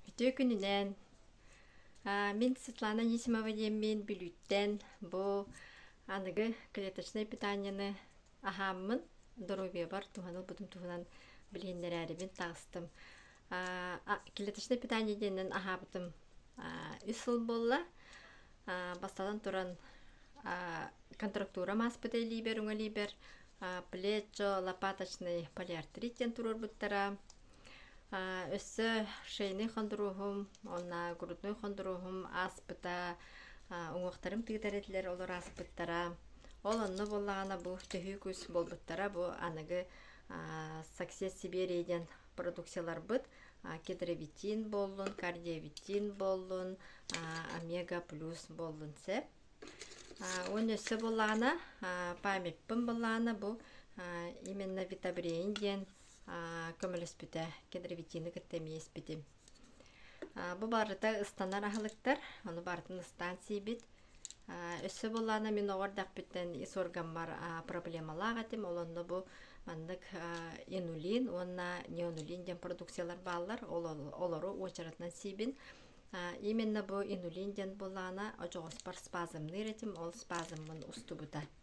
Үтүө күнүнэн! Мин Светлана Анисимова диэммин Бүлүүттэн бу аныгы клеточнай питанияны аһааммын, доруобуйабар туһаны ылбытым туһунан билиһиннэрээрибин таҕыстым. клеточнай питание диэнинэн аһаабытым үс сыл буолла. бастатан туран контрактура ааспыта илиибэр, өҥө илиибэр плечо, лопаточный полиартрит диэн туруорбуттара. Өссө шейный хондуруоһум, онна грудной хондуруоһум ааспыта, уҥуохтарым тыытар этилэр олор ааспыттара. Ол онно буоллаҕына бу төһүү кус буолбуттара бу аныгы Success Siberia диэн продукцияларбыт кетровитин буоллун, кардиовитин буоллун, омега плюс буоллун сөп. Уонна өссө буоллаҕына памятпын буоллаҕына бу именно витобрений диэн көмөлөспүтэ кедровитины кытта эмиэ испитим бу барыта ыстанар аһылыктар ону барытын ыстаан сиибит өссө буоллаана мин оҕо эрдэхпиттэн ис органбар проблемалаах этим ол онно бу маннык инулин уонна неонулин диэн продукциялар бааллар олору уочаратынан сиибин именно бу инулин диэн буоллаана очоҕоспор спазмныыр этим ол спазммын устубута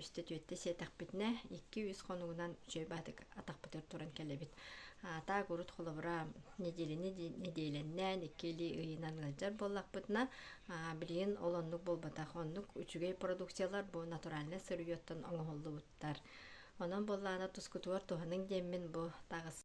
үстэ түөртэ сиэтэхпитинэ икки үс хонугунан үчүөйбаатык атахпытыгар туран кэлэбит таак урут холобура неделяны неделяннээн икки илии ыйынан ыалдьар буоллахпытына билигин ол оннук буолбатах оннук үчүгэй продукциялар бу натуральнай сырьеттан оҥоһуллубуттар онон буоллаана тускутугар туһаныҥ диэммин бу таҕыс